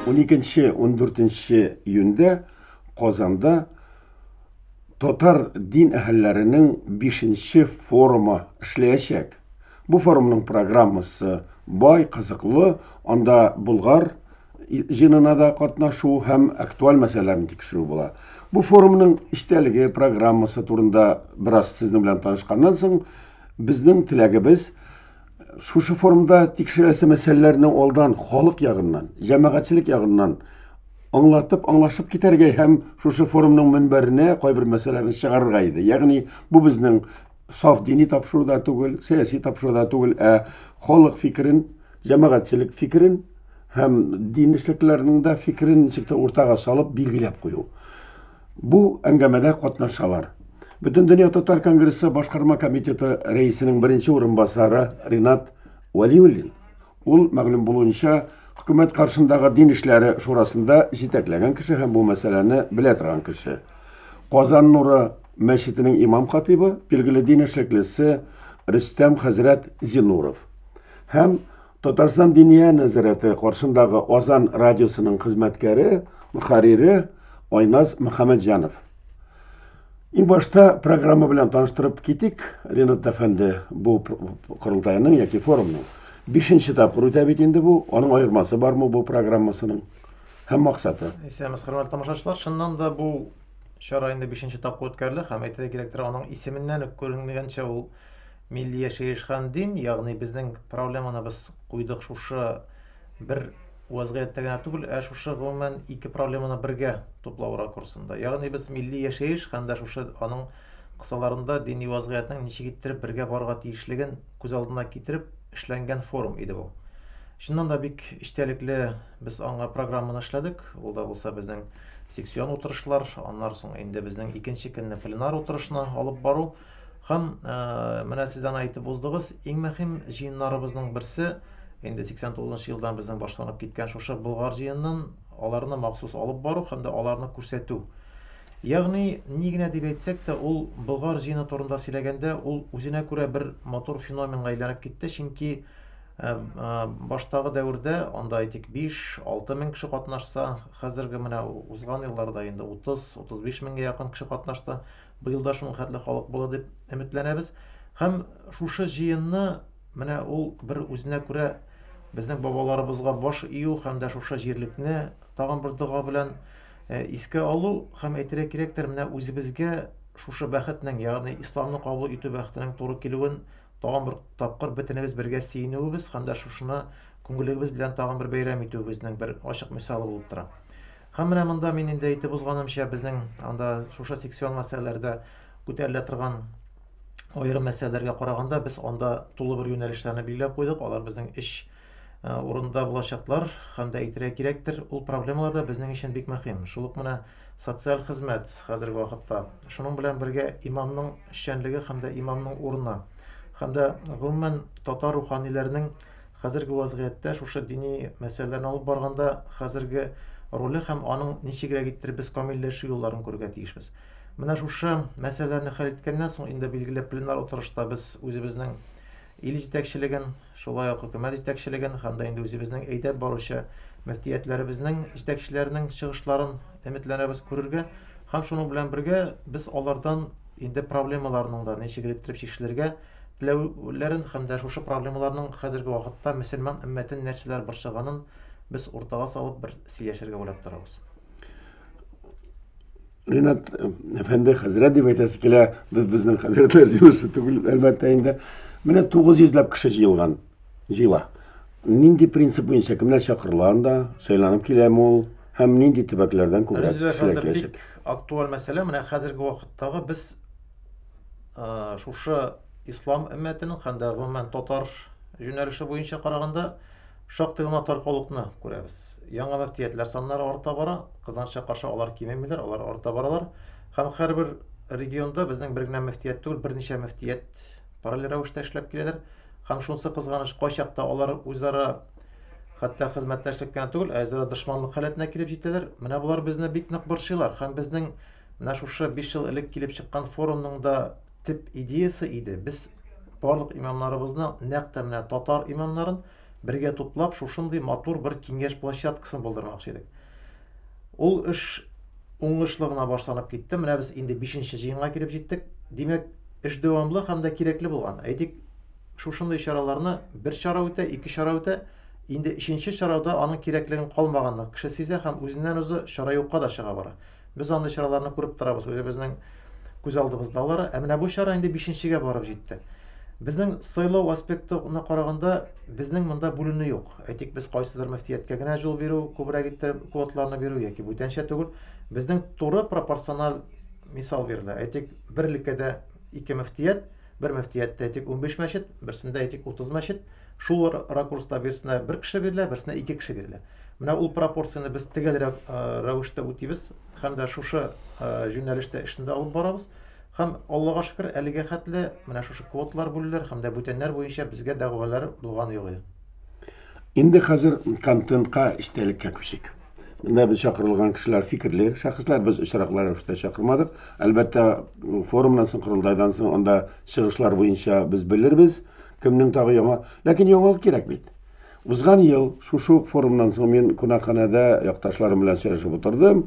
Уникенче, ундүртенче июньдә Казанда татар дин әһелләренең бишенче форумы эшләячәк. Бу форумның программасы бай, кызыклы, анда Болгар, җыенына да катнашу һәм актуаль мәсьәләләрне тикшерү була. Бу форумның эчтәлеге, программасы турында бераз сезнең белән танышканнан соң, безнең теләгебез шушы форумда тикшерәсе мәсьәләләрне алдан халык ягыннан, җәмәгатьчелек ягыннан аңлатып, аңлашып китәргә һәм шушы форумның мөнбәренә кайбер мәсьәләләрне чыгарырга иде. Ягъни бу безнең саф дини тапшыру да түгел, сәяси тапшыру да түгел, ә халык фикерен, җәмәгатьчелек фикерен һәм дин эшлеклеләренең дә фикерен ничек тә уртага салып билгеләп кую. Бу әңгәмәдә катнашалар. Бөтен дөнья татар конгрессы башкарма комитеты рәисенең беренче урынбасары Ринат Валиуллин Ул, мәгълүм булуынча, хөкүмәт каршындагы дин эшләре шурасында җитәкләгән кеше һәм бу мәсьәләне белә торган кеше. Казан нуры мәчетенең имам-хатыйбы, билгеле дин эшлеклесе Рөстәм хәзрәт Зинуров һәм Татарстан Диния нәзарәте каршындагы Азан радиосының хезмәткәре, мөхәррире Айназ Мөхәммәтҗанов. Иң башта программа белән таныштырып китик, Ренат әфәнде, бу корылтайның яки форумның бишенче тапкыр үтә бит инде бу, аның аермасы бармы бу программасының һәм максаты? Исәнмез, хөрмәтле тамашачылар, чыннан да бу чара инде бишенче тапкыр үткәрелә һәм әйтергә кирәктер, аның исеменнән үк күренгәнчә ул милли яшәеш һәм дин, ягъни безнең проблеманы без куйдык шушы бер Вәзгыятьтә генә түгел, ә шушы гомумән ике проблеманы бергә туплау ракурсында. Ягъни без милли яшәеш һәм дә шушы аның кысаларында дини вәзгыятьнең ничек иттереп бергә барырга тиешлеген күз алдына китереп эшләнгән форум иде бу. Чыннан да бик эчтәлекле без аңа программаны эшләдек. Ул да булса безнең секцион утырышлар, аннары соң инде безнең икенче көнне пленар утырышны алып бару. Һәм менә сез аны әйтеп уздыгыз, иң мөһим җыеннарыбызның берсе, инде 89 нчы елдан безнең башланып киткән шушы Болгар җыенын аларны махсус алып бару һәм дә аларны күрсәтү. Ягъни, ни генә дип әйтсәк тә, ул Болгар җыены турында сөйләгәндә, ул үзенә күрә бер матур феноменга әйләнеп китте, чөнки баштагы дәвердә анда әйтик 5-6 мең кеше катнашса, хәзерге менә узган елларда инде 30-35 меңгә якын кеше катнашты. Быел да шуның хәтле халык булыр дип өметләнәбез. Һәм шушы җыенны менә ул бер үзенә күрә безнең бабаларыбызга баш ию һәм дә шушы җирлекне тагын бер дога белән э, искә алу һәм әйтергә кирәктер, менә үзебезгә шушы бәхетнең, ягъни исламны кабул итү бәхетенең туры килүен тагын бер тапкыр бөтенебез бергә сөенүебез һәм дә шушыны күңелебез белән тагын бер бәйрәм итүебезнең бер ачык мисалы булып тора. Һәм менә монда мин инде әйтеп узганымча, безнең анда шушы секцион мәсьәләләрдә күтәрелә торган аерым мәсьәләләргә караганда, без анда тулы бер юнәлешләрне билгеләп куйдык. Алар безнең эш э, урында булачаклар һәм дә әйтергә кирәктер, ул проблемалар да безнең өчен бик мөһим. Шул ук менә социаль хезмәт хәзерге вакытта. Шуның белән бергә имамның эшчәнлеге һәм дә имамның урыны һәм дә гомумән татар руханиләренең Хәзерге вазгыятьтә шушы дини мәсьәләләрне алып барганда хәзерге роле һәм аның ничегрәк иттереп без камилләшү юлларын күрергә тиешбез. Менә шушы мәсьәләләрне хәл иткәннән соң инде билгеле пленар утырышта без үзебезнең ил җитәкчелеген, шулай ук хөкүмәт җитәкчелеген һәм дә инде үзебезнең әйдәп баручы мөфтиятләребезнең җитәкчеләренең чыгышларын өметләнәбез күрергә һәм шуның белән бергә без алардан инде проблемаларның да ничегрәк иттереп чишелергә теләүләрен һәм дә шушы проблемаларның хәзерге вакытта мөселман өммәтен нәрсәләр борчыганын без уртага салып бер сөйләшергә уйлап торабыз. Ринат әфәнде хәзрәт дип әйтәсе килә, без безнең хәзрәтләр җыелышы түгел, әлбәттә инде. Менә 900 ләп кеше җыелган, җыела. Нинди принцип буенча кемнәр чакырыла анда, сайланып киләме ул? һәм нинди төбәкләрдән күбрәк кешеләр киләчәк? Актуаль мәсьәлә менә хәзерге вакыттагы без э, шушы ислам өммәтенең һәм дә гомумән татар юнәлеше буенча караганда шактый гына таркаулыкны күрәбез. Яңа мөфтиятләр саннары арта бара, кызганычка каршы алар кимемиләр, алар арта баралар. Һәм һәрбер регионда безнең бер генә мөфтият түгел, берничә мөфтият параллель рәвештә эшләп киләләр. Һәм шунысы кызганыч, кайчакта алар үзара хәтта хезмәттәшлек кенә түгел, ә үзара дошманлык халәтенә килеп җитәләр. Менә болар безне бик нык борчыйлар һәм безнең Менә шушы 5 ел элек килеп чыккан форумның да төп идеясе иде. Без барлык имамнарыбызны, нәкъ тә менә татар имамнарын бергә туплап, шушындый матур бер киңәш площадкасын булдырмакчы идек. Ул эш уңышлы гына башланып китте. Менә без инде 5нче җыенга килеп җиттек. Димәк, эш дәвамлы һәм дә кирәкле булган. Әйтик, шушындый чараларны бер чара үтә, ике чара үтә, инде өченче чарада аның кирәклеген калмаганны кеше сизә һәм үзеннән-үзе чара юкка да чыга бара. Без андый чараларны күреп торабыз, үзебезнең күз алдыбызда алар. Ә менә бу чара инде бишенчегә барып җитте. Безнең сайлау аспектына караганда, безнең монда бүленү юк. Әйтик, без кайсыдыр мөфтияткә генә җул бирү, күбрәк иттереп квоталарны бирү яки бүтәнчә түгел. Безнең туры пропорциональ мисал бирелә. Әйтик, бер өлкәдә ике мөфтият, Бер мөфтияттә әйтик 15 мәчет, берсендә әйтик 30 мәчет. Шул ракурста берсенә бер кеше бирелә, берсенә ике кеше бирелә. Менә ул пропорцияне без төгәл рәвештә үтибез һәм дә шушы юнәлештә эшне дә алып барабыз. Һәм Аллага шөкер, әлегә хәтле менә шушы квоталар бүлүләр һәм дә бүтәннәр буенча безгә дәгъвалар булган юк. Инде хәзер контентка, эчтәлеккә күчик. Менә без чакырылган кешеләр фикерле шәхесләр, без очраклы рәвештә чакырмадык. Әлбәттә, форумнан соң, корылтайдан соң анда чыгышлар буенча без белербез, кемнең тагы яңа. Ләкин яңалык кирәк бит. Узган ел шушы ук форумнан соң мин кунакханәдә якташларым белән сөйләшеп утырдым.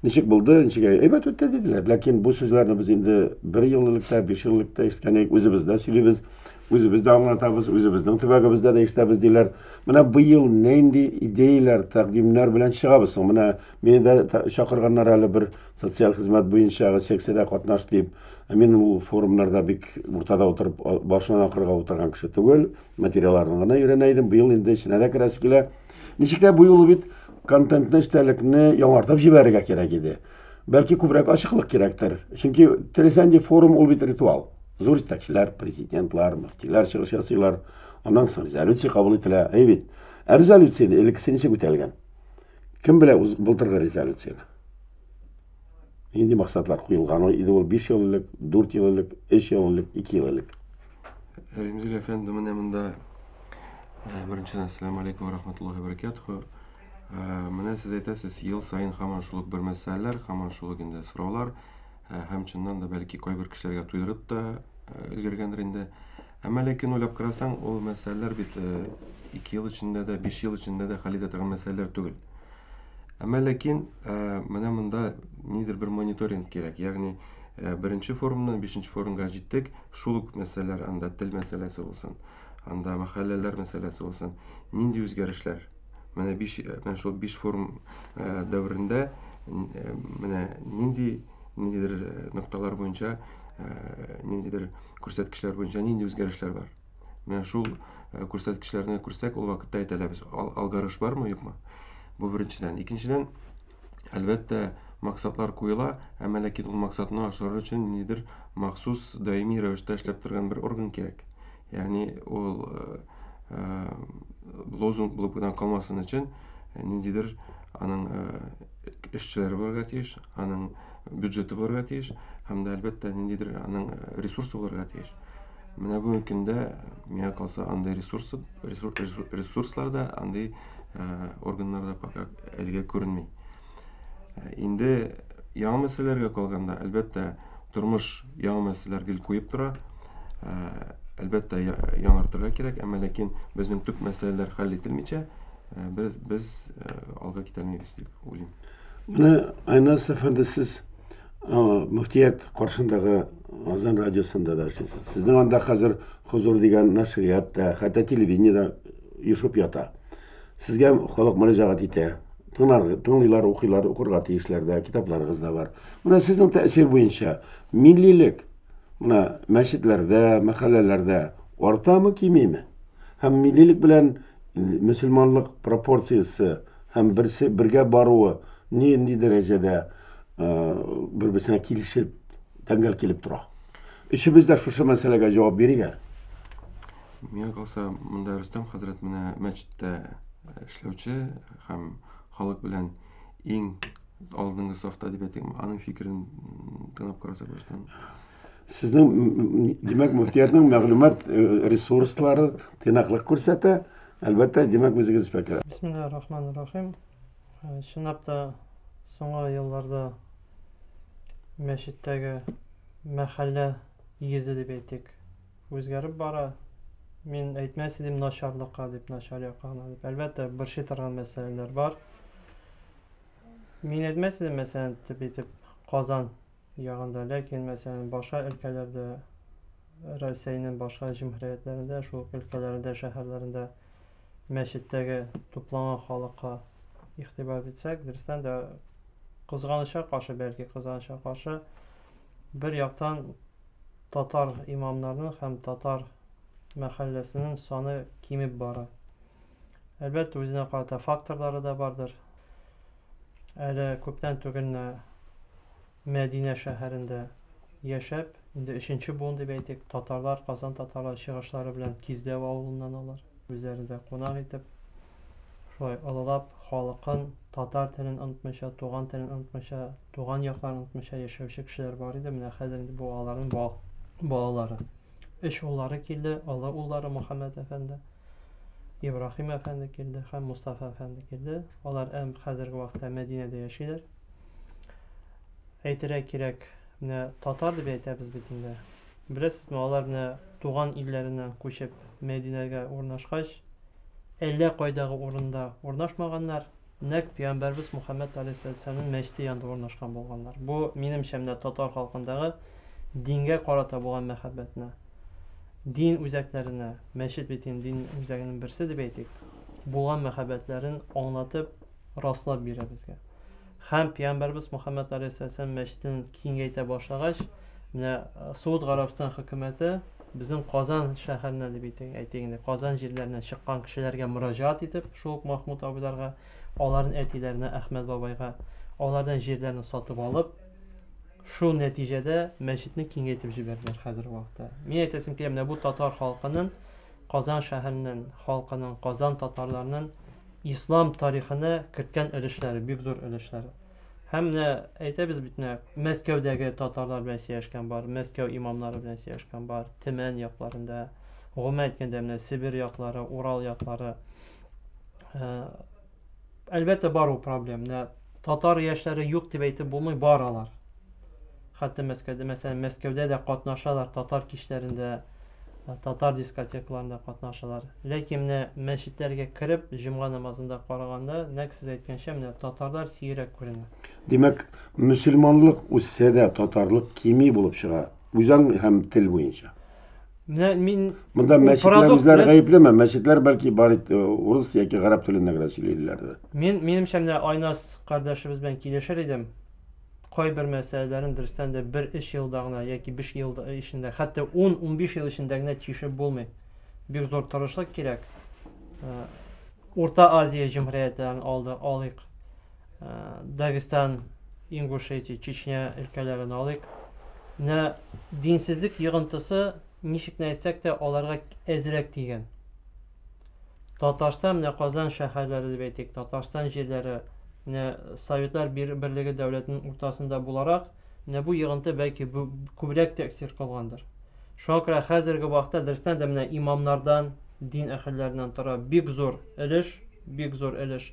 Ничек булды, ничек әйбәт үтте диделәр. Ләкин бу сүзләрне без инде бер ел элек тә, биш ел элек тә ишеткән идек, үзебез дә сөйлибез. Үзебез дә аңлатабыз, үзебезнең төбәгебездә дә эштәбез диләр. Менә быел нинди идеяләр, тәкъдимнәр белән чыгабыз соң? Менә мине дә та- чакырганнар әле бер социаль хезмәт буенча секциядә катнаш дип. Ә Мин ул форумнарда бик уртада утырып, а- башыннан акырга утырган кеше түгел. Материалларын гына өйрәнә идем. Быел инде эченә дә керәсе килә. Ничек тә бу юлы бит контентны, эчтәлекне яңартып җибәрергә кирәк иде. Бәлки күбрәк ачыклык кирәктер. Чөнки Тересәнди форум ул бит ритуал. Зур җитәкчеләр, президентлар, мөфтиләр чыгыш ясыйлар. Аннан соң резолюция кабул ителә. Әй бит. Ә резолюцияне элеккесе ничек үтәлгән? Кем белә үз былтыргы резолюцияне? Нинди максатлар куелган иде ул 5 ел элек, 4 ел элек, 3 ел элек, 2 ел элек? Римзил әфәнде менә монда. Беренчедән, ассаламу алейкум ва рахматуллахи ва баракатуху. Ә, менә сез әйтәсез, ел саен һаман шул ук бер мәсьәләләр, һаман шул ук инде сораулар, ә, һәм чыннан да бәлки кайбер кешеләргә туйдырып та өлгергәндер инде. Әмма ләкин уйлап карасаң, ул мәсьәләләр бит ике ел эчендә дә, биш ел эчендә дә хәл итә торган мәсьәләләр түгел. Әмма ләкин менә монда нидер бер мониторинг кирәк. Ягъни беренче форумнан бишенче форумга җиттек, шул ук мәсьәләләр, анда тел мәсьәләсе булсын, анда мәхәлләләр мәсьәләсе булсын, нинди үзгәрешләр? менә биш менә шул биш форум дәверендә менә нинди ниндидер нокталар буенча ниндидер күрсәткечләр буенча нинди үзгәрешләр бар менә шул күрсәткечләрне күрсәк ул вакытта әйтә алабыз алгарыш бармы юкмы бу беренчедән икенчедән әлбәттә максатлар куела әмма ләкин ул максатны ашырыр өчен ниндидер махсус даими рәвештә эшләп торган бер орган кирәк Ягъни ул лозунг булып гына калмасын өчен ниндидер аның эшчеләре булырга тиеш, аның бюджеты булырга тиеш һәм дә әлбәттә ниндидер аның ресурсы булырга тиеш. Менә бүгенге көндә миңа калса андый ресурсы ресурслар да, андый органнар да пока әлегә күренми. Ә, инде яңа мәсьәләләргә калганда, әлбәттә, тормыш яңа мәсьәләләр гел куеп тора. Ә, әлбәттә, яңартырга кирәк, әмма ләкин безнең төп мәсьәләләр хәл ителмичә, ә, без, без ә, алга китәлмибез дип уйлыйм. Менә Айнас әфәнде сез мөфтият каршындагы Азан радиосында да эшлисез. Сезнең анда хәзер Хозур дигән нәшрият та, хәтта телевидение да ешып ята. Сезгә халык мөрәҗәгать итә. Тыңлар, тыңлыйлар, укыйлар, укырга тиешләр дә, китапларыгыз да бар. Менә сезнең тәэсир буенча миллилек менә мәчетләрдә, мәхәлләләрдә артамы, кимиме? Һәм миллилек белән мөселманлык пропорциясе һәм берсе бергә баруы нинди дәрәҗәдә бер-берсенә килешеп, тәңгәл килеп тора? Өчебез дә шушы мәсьәләгә җавап бирик әле. Миңа калса, монда Рөстәм хәзрәт менә мәчеттә э, эшләүче һәм халык белән иң алдынгы сафта дип әйтим. Аның фикерен тыңлап карасак баштан. Сезнең димәк мөфтиятның мәгълүмат э, ресурслары тыйнаклык күрсәтә. Әлбәттә, димәк үзегез фәкер. Бисмиллаһир рахманир рахим. Э, чынлап та соңгы елларда мәчеттәге мәхәллә йөзе дип әйтик үзгәреп бара. Мин әйтмәс идем начарлыкка дип, начар якка гына дип. Әлбәттә, борчый торган мәсьәләләр бар. Мин әйтмәс идем, мәсәлән, тип итеп Казан ягында, ләкин, мәсәлән, башка өлкәләрдә, Рәсәйнең башка җөмһүриятләрендә, шул өлкәләрендә, шәһәрләрендә мәчеттәге тупланган халыкка игътибар итсәк, дөрестән дә кызганыча каршы, бәлки кызганыча каршы, Бер яктан татар имамнарының һәм татар мәхәлләсенең саны кимеп бара. Әлбәттә, үзенә карата факторлары да бардыр. Әле күптән түгел Мәдинә шәһәрендә яшәп, инде өченче буын дип әйтик, татарлар, Казан татарлары чыгышлары белән Киздәү авылыннан алар, үзләрендә кунак итеп, шулай олылап, халыкын, татар телен онытмыйча, туган телен онытмыйча, туган якларын онытмыйча яшәүче кешеләр бар иде, менә хәзер инде бу аларның ба балалары. Өч уллары килде, олы уллары Мөхәммәд әфәнде, Ибраһим әфәнде килде һәм Мустафа әфәнде килде. Алар әм хәзерге вакытта Мәдинәдә яшиләр. Әйтергә кирәк, менә татар дип әйтәбез бит инде. Беләсезме, алар менә туган илләреннән күчеп, Мәдинәгә урнашкач, әллә кайдагы урында урнашмаганнар, нәкъ пиамбәрбез Мухәммәд алейһиссәламнең мәчете янында урнашкан булганнар. Бу, минемчә, менә татар халкындагы дингә карата булган мәхәббәтне, дин үзәкләренә, мәчет бит инде дин үзәгенең берсе дип әйтик, булган мәхәббәтләрен аңлатып, раслап бирә безгә. Һәм пиямбәрбез Мөхәммәд алейһиссәләм мәчетен киңәйтә башлагач, менә э, Сауд Гарәбстан хөкүмәте безнең Казан шәһәренә дип әйтик, әйтик инде, Казан җирләренә чыккан кешеләргә мөрәҗәгать итеп, шул ук Махмуд абыйларга, аларның әтиләренә Әхмәд бабайга, алардан җирләрне сатып алып, шул нәтиҗәдә мәчетне киңәйтеп җибәрделәр хәзерге вакытта. Мин әйтәсем килә, менә бу татар халкының Казан шәһәрнен халкынын, Казан татарларнын ислам тарихына керткән өлешләре, бик зур өлешләре. Һәм менә әйтәбез бит менә Мәскәүдәге татарлар белән сөйләшкән бар, Мәскәү имамнары белән сөйләшкән бар, Төмән якларында, гомумән әйткәндә менә Себер яклары, Урал яклары, Әлбәттә бар ул проблем. Менә татар яшьләре юк дип әйтеп булмый, бар алар. Хәтта Мәскәүдә, мәсәлән, Мәскәүдә дә катнашалар татар кичләрендә, э, татар дискотекаларында катнашалар. Ләкин менә мәчетләргә кереп, җомга намазында караганда, нәкъ сез әйткәнчә, менә татарлар сирәк күренә. Димәк, мөселманлык үссә дә татарлык кими булып чыга. Үзаң һәм тел буенча. Менә мин Монда мәчетләр үзләре гаеплеме? Мәчетләр бәлки бар э, урыс яки гарәп телендә генә сөйлиләрдер. Мин минемчә менә Айнас кардәшебез белән килешер идем. Кайбер мәсьәләләрен дөрестән дә бер эш елда гына яки биш ел эчендә, хәтта 10-15 ел эчендә генә чишеп булмый. Бик зур тырышлык кирәк. Э, Урта Азия җәмгыятен алды, алыйк. Дагестан, Ингушетия, Чечня өлкәләрен алыйк. Менә динсезлек йогынтысы ничек не әйтсәк тә аларга әзрәк тигән. Татарстан менә Казан шәһәрләре дип әйтик, Татарстан җирләре менә Советлар Берлеге дәүләтенең уртасында буларак, менә бу йогынты бәлки күбрәк тәэсир кылгандыр. Шуңа күрә хәзерге вакытта дөрестән дә менә имамнардан, дин әһелләреннән тора бик зур өлеш, бик зур өлеш.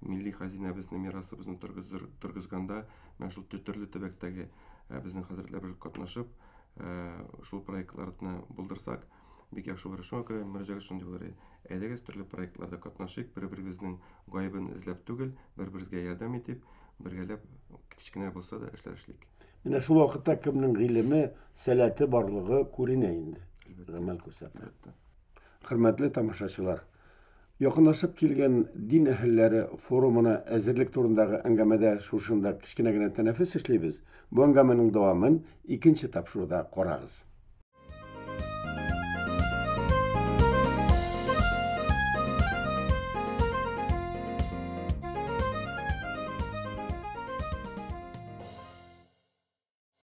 милли хәзинәбезне, мирасыбызны торгызганда, менә шул төрле төбәктәге безнең хәзрәтләребез катнашып, шул проектларны булдырсак, бик яхшы булыр. Шуңа күрә мөрәҗәгать шундый булыр. Әйдәгез, төрле проектларда катнашыйк, бер-беребезнең гаебен эзләп түгел, бер-беребезгә ярдәм итеп, бергәләп кечкенә булса да эшләр эшлик. Менә шул вакытта кемнең гыйлеме, сәләте барлыгы күренә инде. Гамәл күрсәтә. Хөрмәтле тамашачылар! Якынлашып килгән дин әһелләре форумына әзерлек турындагы әңгәмәдә шушында кечкенә генә тәнәфес эшлибез. Бу әңгәмәнең дәвамын икенче тапшыруда карагыз.